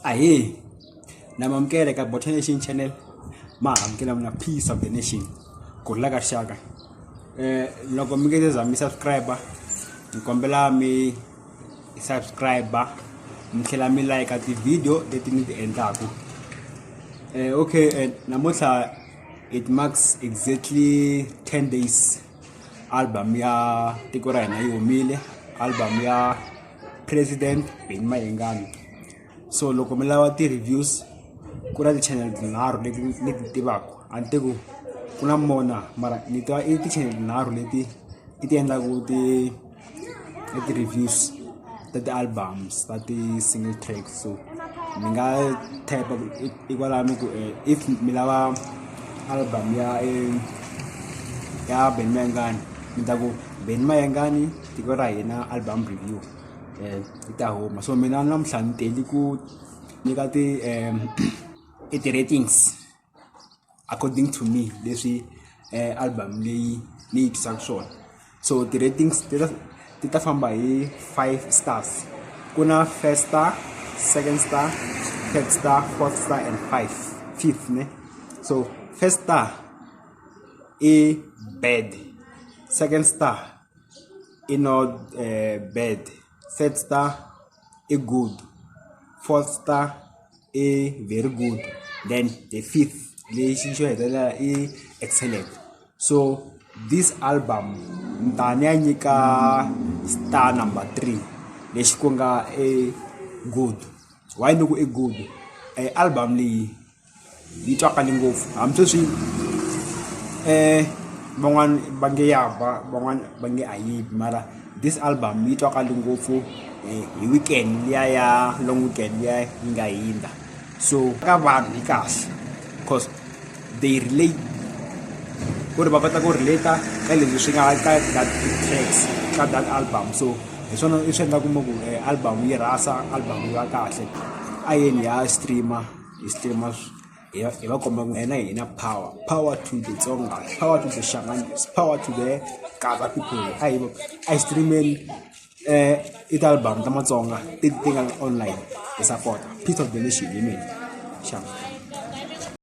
ahee namamukele ka bota nation channel ma amukela mina peace of the nation gudla ka xaka eh loko mi nge za mi subscriber ni kombela mi subscriber mi tlhela mi like ti-video leti ni ti endlaku eh okay eh, namuntlha it marks exactly 10 days album ya tiko ra hina yi humile album ya president beni mayengani so loko mi lava ti-reviews ku na ti-channel tinharhu leti ni ti tivaka a ni te ku ku na mona mara ni tiva i ti-channel tinharhu leti i ti endlaku ti i ti-reviews ta ti-albums ta ti-single track so mi nga type ikwalano ku eh, if mi lava album ya eh, ya ben mayengani mi ta ku ben mayengani tiko ra hina album review um i ta huma so mina namuhla ni teli ku nyika ti um i ti-ratings according to me leswi eh, album leyi ni yi twisaka swona so ti-ratings ti ta famba hi five stars ku na first star second star third star fourth star and five fifth ne so first star i bad second star i not uh, bad third star a good fourth star a very good then the fifth lexi xo hetelela i excellent so this album ni ta ni ya nyika star number three lexi ku nga a good why ni ku i good e album leyi yi twakale ngopfu hambi sweswi van'wani va nge ya ba van'wani va nge a yi bi mara this album yi twakale ngopfu hi weekend liya ya long weekend liya yi nga hindza so ka vanhu yi kahle cause they relate ku ri va kota ku relate-a ka leswi swi nga ka that tracks ka that album so hi swona i swi endlaku mi ku album yi rhasa album yi va kahle a yeni hi ya stream-a. hi stream hi va hi va komba ku hina hi na power power to the tsonga power to the shanganis power to the kaba people a hi a hi streameni um i ti-album ta matsonga ti ti nga online hi support peace of the nation hi mina xana